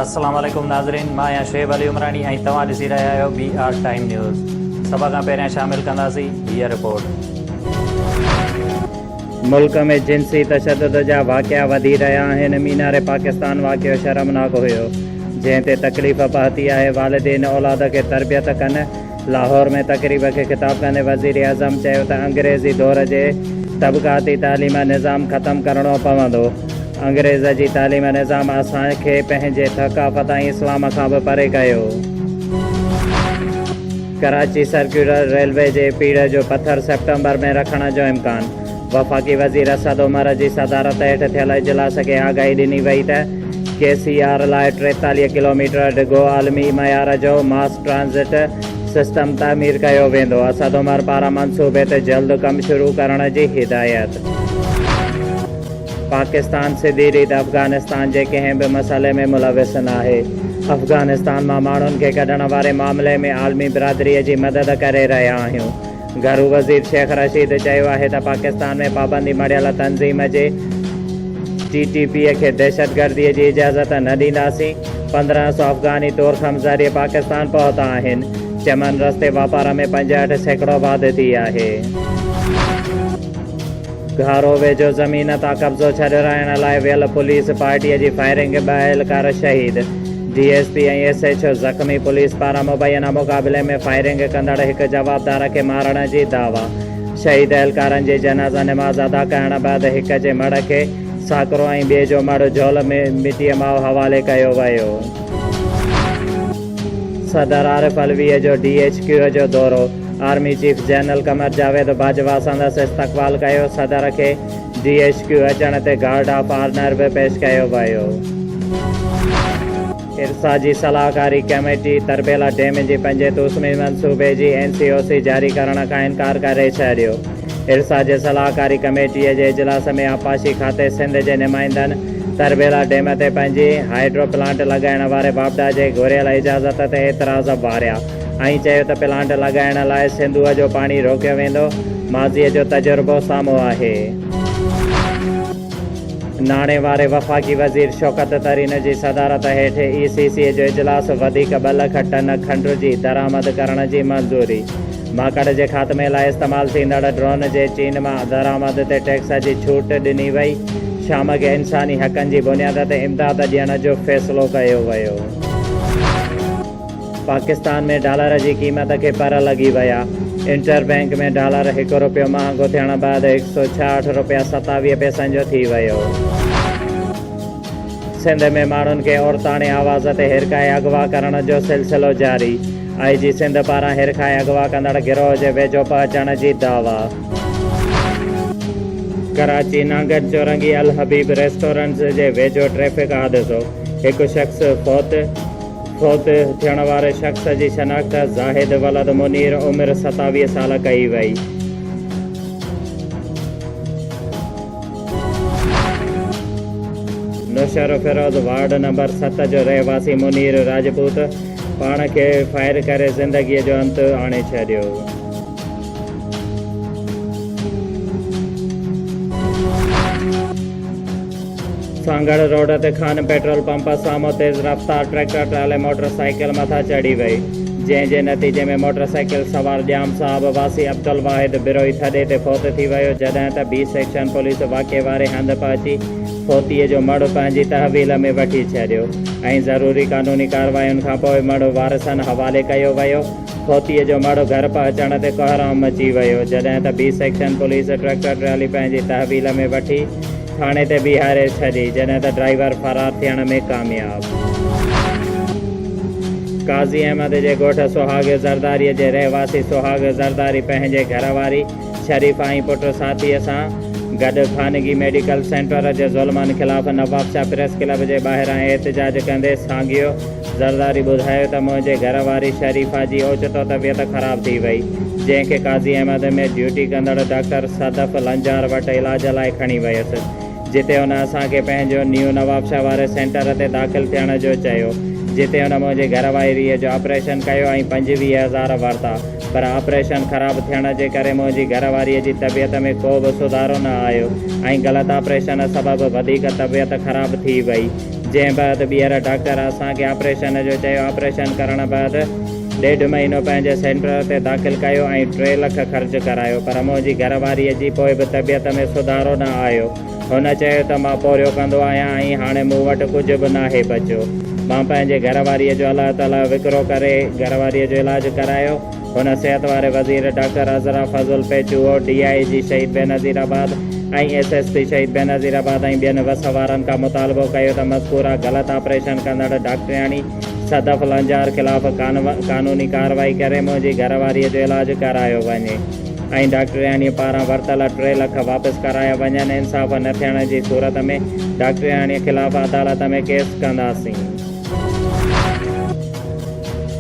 السلام عليڪم ناظرين مان آهيان شعيب علي عمراڻي ۽ توهان ڏسي رهيا آهيو بي آر ٽائيم نيوز سڀ کان پهريان شامل ڪنداسين هيء رپورٽ. ملڪ ۾ جنسي تشدد جا واقعا وڌي رهيا آهن، مينار پاڪستان واقعو شرمناڪ هيو، جنهن تي تڪليف پهتي آهي، والدين اولاد کي تربيت ڪن، لاهور ۾ تقريب کي خطاب ڪندي وزيراعظم چيو ته انگريزي دور جي طبقاتي تعليم نظام ختم ڪرڻو پوندو، انگريز جي تعليم نظام اسان کي پنهنجي ثقافت ۽ اسلام کان به پري ڪيو. ڪراچي سرڪيولر ريلوي جي پيڙهه جو پٿر سيپٽمبر ۾ رکڻ جو امڪان. وفاقي وزير اسد عمر جي صدارت هيٺ ٿيل اجلاس کي آگاهي ڏني وئي ته ڪي سي آر لاء ٽيتاليهه ڪلوميٽر ڊگهو عالمي معيار جو ماس ٽرانزٽ سسٽم تعمير ڪيو ويندو، اسد عمر پاران منصوبي تي جلد ڪم شروع ڪرڻ جي هدايت. پاڪستان سڌي ريت افغانستان جي ڪنهن به مسئلي ۾ ملوث ناهي، افغانستان مان ماڻهن کي ڪڍڻ واري معاملي ۾ عالمي برادري جي مدد ڪري رهيا آهيون، گهرو وزير شيخ رشيد چيو آهي ته پاڪستان ۾ پابندي مڙهيل تنظيم جي ٽي ٽي پي کي دهشتگردي جي اجازت نه ڏينداسين، پندرهن سو افغاني طورخم ذريعي پاڪستان پهتا آهن، چمن رستي واپار ۾ پنجهٺ سيڪڙو واڌ ٿي آهي. گهارو ويجهو زمين تان قبضو ڇڏرائڻ لاء ويل پوليس پارٽي جي فائرنگ ۾ ٻه اهلڪار شهيد، D S P ۽ S H O زخمي، پوليس پاران مبينا مقابلي ۾ فائرنگ ڪندڙ هڪ جوابدار کي مارڻ جي دعويٰ، شهيد اهلڪارن جي جنازه نماز ادا ڪرڻ بعد هڪ جي مڙهه کي ساڪرو ۽ ٻئي جو مڙهه جهول مٽيء ماء حوالي ڪيو ويو. صدر عارف علويء جو ڊي ايڇ ڪيو جو دورو. Army chief general Qamar Javed Bajwa سندس استقبال ڪيو، صدر کي جي ايڇ ڪيو اچڻ تي گارڊ آف آرنر به پيش ڪيو ويو. ارسا جي صلاحڪاري ڪميٽي تربيلا ڊيم جي پنجين توسمي منصوبي جي اين سي او سي جاري ڪرڻ کان انڪار ڪري ڇڏيو. ارسا جي صلاحڪاري ڪميٽي جي اجلاس ۾ آبپاشي کاتي سنڌ جي نمائندن تربيلا ڊيم تي پنجين هائيڊرو پلانٽ لڳائڻ واري واپڊا جي گهريل اجازت تي اعتراض واريا. ائين چيو ته پلانٽ لڳائڻ لاء سنڌوء جو پاڻي روڪيو ويندو، ماضيء جو تجربو سامهون آهي. ناڻي واري وفاقي وزير شوڪت ترين جي صدارت هيٺ اي سي سي جو اجلاس، وڌيڪ ٻه لک ٽن کنڊ جي درآمد ڪرڻ جي منظوري، ماڪڙ جي خاتمي لاء استعمال ٿيندڙ ڊرون جي چين مان درآمد تي ٽيڪس جي ڇوٽ ڏني وئي، شام کي انساني حقن جي بنياد تي امداد ڏيڻ جو فيصلو ڪيو ويو. پاڪستان ۾ ڊالر جي قيمت کي پر لڳي ويا، انٽر بئنڪ ۾ ڊالر هڪ رپيو مهانگو ٿيڻ بعد هڪ سؤ ڇاهٺ رپيا ستاويهه پئسن جو ٿي ويو. سنڌ ۾ ماڻهن کي عورتاڻي آواز تي هيرکائي اغوا ڪرڻ جو سلسلو جاري، آء جي سنڌ پاران هيرکائي اغوا ڪندڙ گروهه جي ويجهو پهچڻ جي دعويٰ. ڪراچي نانگن چورنگي الحبيب ريسٽورنٽس جي ويجهو ٽريفڪ حادثو، هڪ شخص فوت. فوت ٿيڻ واري شخص جي شناخت زاهد ولد منير عمر ستاويهه سال ڪئي وئي. نوشهرو فيروز وارڊ نمبر ست جو رهواسي منير راجپوت پاڻ کي فائر ڪري زندگي جو انت آڻي ڇڏيو. سانگهڙ روڊ تي خان پيٽرول پمپ سامهون تيز رفتار ٽريڪٽر ٽرالي موٽر سائيڪل مٿان چڙهي وئي جنهن جي نتيجي ۾ موٽر سائيڪل سوار ڄام صاحب واسي عبدالواحد بروهي ٿڏي تي فوت ٿي ويو جڏهن ته بي سيڪشن پوليس واقعي واري هنڌ پهچي فوتي جو مڙهه پنهنجي تحويل ۾ وٺي ڇڏيو ۽ ضروري قانوني ڪارواين کانپوء مڙهه وارثن حوالي ڪيو ويو. ڦوتيء جو مڙهه گهر پهچڻ تي ڪهرام مچي ويو، جڏهن ته B section police tractor trolley پنهنجي تحويل ۾ وٺي ٿاڻي تي بيهاري ڇڏي، جڏهن ته ڊرائيور فرار ٿيڻ ۾ ڪامياب. قاضي احمد جي ڳوٺ سهاڳ زرداريء جي رهواسي سهاڳ زرداري پنهنجي گهر واري، شريف ۽ پٽ ساٿيء سان گڏ خانگي ميڊيڪل سينٽر جي ظلمن خلاف نوابشاهه پريس ڪلب جي ٻاهران احتجاج ڪندي سانگيو زرداري ٻڌايو ته منهنجي گهر واري شريفه جي اوچتو طبيعت خراب ٿي وئي جنهن کي قاضي احمد ۾ ڊيوٽي ڪندڙ ڊاڪٽر صدف لنجار وٽ علاج لاء کڻي ويس. جتي هن اسان کي پنهنجو نيو نوابشاهه واري سينٽر تي داخل ٿيڻ جو چيو، جتي هن منهنجي گهر واريء جو آپريشن ڪيو ۽ پنجويهه هزار ورتا، پر آپريشن خراب ٿيڻ جي ڪري منهنجي گهر واريء جي طبيعت ۾ ڪو به سڌارو نه آيو ۽ غلط آپريشن سبب وڌيڪ طبيعت خراب ٿي وئي، جنهن بعد ٻيهر ڊاڪٽر اسان کي آپريشن جو چيو، آپريشن ڪرڻ بعد. ڏيڍ مهينو پنهنجي سينٽر تي داخل ڪيو ۽ ٽي لک خرچ ڪرايو پر منهنجي گهر واريء جي پوء به طبيعت ۾ سڌارو نه آيو. هن چيو ته مان پورهيو ڪندو آهيان ۽ هاڻي مون وٽ ڪجهه به ناهي بچيو. مان پنهنجي گهر واريء جو الله تعاليٰ وڪرو ڪري گهر واريء جو علاج ڪرايو. هن صحت واري وزير doctor Azra Fazal Pechuho, D I G Shaheed Benazirabad ۽ S S P Shaheed Benazirabad ۽ ٻين وس وارن کان مطالبو ڪيو ته مذڪوره غلط آپريشن ڪندڙ ڊاڪٽرياڻي صدف لنجار خلاف قانوني ڪارروائي ڪري منهنجي گهر واريء جو علاج ڪرايو وڃي ۽ ڊاڪٽرياڻيء پاران ورتل ٽي لک واپس ڪرايا وڃن، انصاف نه ٿيڻ جي صورت ۾ ڊاڪٽرياڻيء خلاف عدالت ۾ ڪيس ڪنداسين.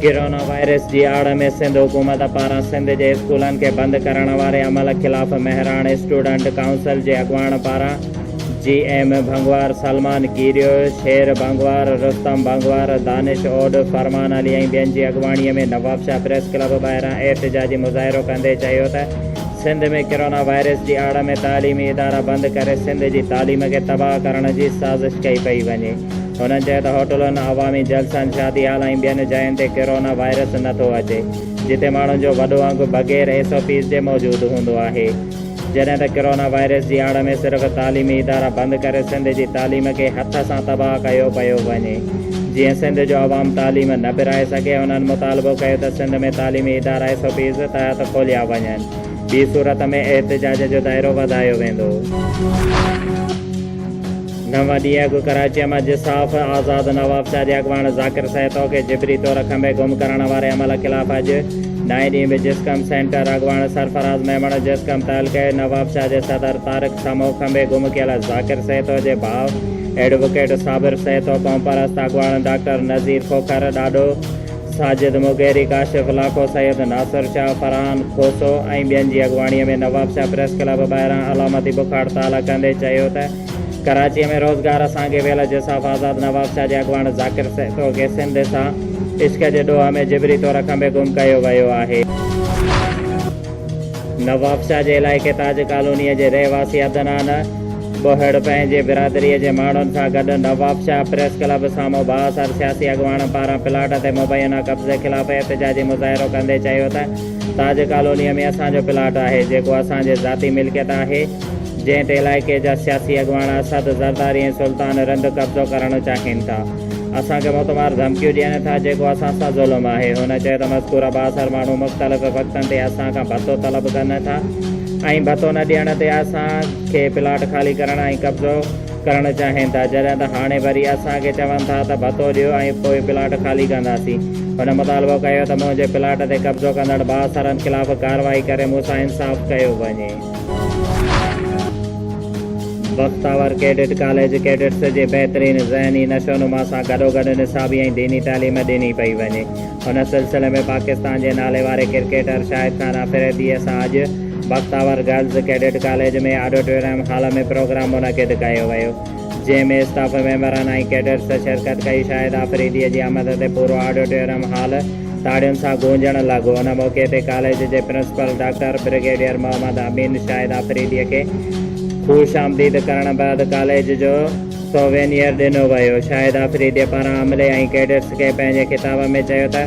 ڪرونا وائرس جي آڙ ۾ سنڌ حڪومت پاران سنڌ جي اسڪولن کي بند ڪرڻ واري عمل خلاف مهراڻ اسٽوڊنٽ ڪائونسل جي اڳواڻ پاران جي ايم ڀنگوار، سلمان ڪيريو، شير ڀنگوار، رستم ڀنگوار، دانش اوڏ، فرمان علي ۽ ٻين جي اڳواڻي ۾ نوابشاهه پريس ڪلب ٻاهران احتجاجي مظاهرو ڪندي چيو ته سنڌ ۾ ڪرونا وائرس جي آڙ ۾ تعليمي ادارا بند ڪري سنڌ جي تعليم کي تباهه ڪرڻ جي سازش ڪئي پئي وڃي هنن چيو ته هوٽلن، عوامي جلسن، شادي هال ۽ ٻين جاين تي ڪرونا وائرس نٿو اچي جتي ماڻهن جو وڏو انگ بغير ايس او پيز جي موجود هوندو آهي. جڏهن ته ڪرونا وائرس جي آڙ ۾ صرف تعليمي ادارا بند ڪري سنڌ جي تعليم کي هٿ سان تباهه ڪيو پيو وڃي جيئن سنڌ جو عوام تعليم نه پرائي سگهي هنن مطالبو ڪيو ته سنڌ ۾ تعليمي ادارا ايس او پيز تحت کوليا وڃن ٻي صورت ۾ احتجاج جو دائرو وڌايو ويندو. نو ڏينهن اڳ ڪراچيء مان جساف آزاد نوابشاهه جي اڳواڻ ذاڪر سهتو کي جبري طور کنڀي گم ڪرڻ واري عمل خلاف اڄ نائين ڏينهن به جسقم سينٽر اڳواڻ سرفراز ميمڻ جسقم تعلقي نوابشاهه جي صدر طارق سمو کنڀي گم ڪيل ذاڪر سهتو جي ڀاء ايڊووڪيٽ صابر سهتو قومپرست اڳواڻ ڊاڪٽر نذير کوکر ڏاڏو ساجد مغيري ڪاشف لاکو سيد ناصر شاهه فرحان کوسو ۽ ٻين جي اڳواڻيء ۾ نوابشاهه پريس ڪلب ٻاهران علامتي بک هڙتال ڪندي چيو ته ڪراچيء ۾ روزگار سان گيويل جساف آزاد نوابشاهه جي اڳواڻ ذاڪر سهتو کي سنڌ سان عشق جي ڏوهه ۾ جبري طور کنڀي گم ڪيو ويو آهي. نوابشاهه جي علائقي تاج ڪالونيء جي رهواسي عدنان ٻوهڙ پنهنجي برادريء جي ماڻهن سان گڏ نوابشاهه پريس ڪلب سامهون بااثر سياسي اڳواڻ پاران پلاٽ تي مبينا قبضي خلاف احتجاجي مظاهرو ڪندي چيو ته تاج ڪالونيء ۾ اسان جو پلاٽ آهي جيڪو اسان جي ذاتي ملڪيت آهي، جنهن تي علائقي جا سياسي اڳواڻ اسد زرداري ۽ سلطان رند قبضو ڪرڻ چاهين ٿا، اسان کي موتمار ڌمڪيون ڏين ٿا، جيڪو اسان سان ظلم آهي. هن چيو ته مذڪوره بااثر ماڻهو مختلف وقتن تي اسان کان ڀتو طلب ڪن ٿا ۽ ڀتو نه ڏيڻ تي اسان کي پلاٽ خالي ڪرڻ ۽ قبضو ڪرڻ چاهين ٿا، جڏهن ته هاڻي وري اسان کي چون ٿا ته ڀتو ڏيو ۽ پوء پلاٽ خالي ڪنداسين. هن مطالبو ڪيو ته منهنجي پلاٽ تي قبضو ڪندڙ بااثرن خلاف ڪارروائي ڪري مون سان انصاف ڪيو وڃي. بختاور ڪيڊٽ ڪاليج ڪيڊٽس جي بهترين ذهني نشونما سان گڏوگڏ نصابي ۽ ديني تعليم ڏني پئي وڃي ان سلسلي ۾ پاڪستان جي ناليواري ڪرڪيٽر شاهد خان آفريديء سان اڄ Bakhtawar girls cadet college ۾ auditorium hall ۾ programme منعقد ڪيو ويو جنهن ۾ اسٽاف ميمبرن ۽ ڪيڊٽس شرڪت ڪئي، شاهد آفريديء جي آمد تي پورو آڊيٽوريم هال تاڙين سان گونجڻ لڳو، ان موقعي تي ڪاليج جي principal doctor brigadier Muhammad Amin Shahid آفريديء کي خوش آمديد ڪرڻ بعد ڪاليج جو سووينيئر ڏنو ويو، شاهد آفريديء پاران عملي ۽ ڪيڊٽس کي پنهنجي خطاب ۾ چيو ته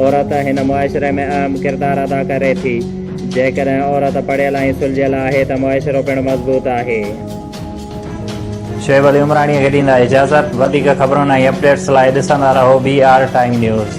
عورت هن معاشري ۾ اهم ڪردار ادا ڪري ٿي، جيڪڏهن عورت پڙهيل ۽ سلجهيل آهي ته معاشرو پڻ مضبوط آهي. شعيب علي عمراڻيء کي ڏيندا اجازت. وڌيڪ خبرن ۽ اپڊيٽس لاء ڏسندا رهو بي آر ٽائيم نيوز.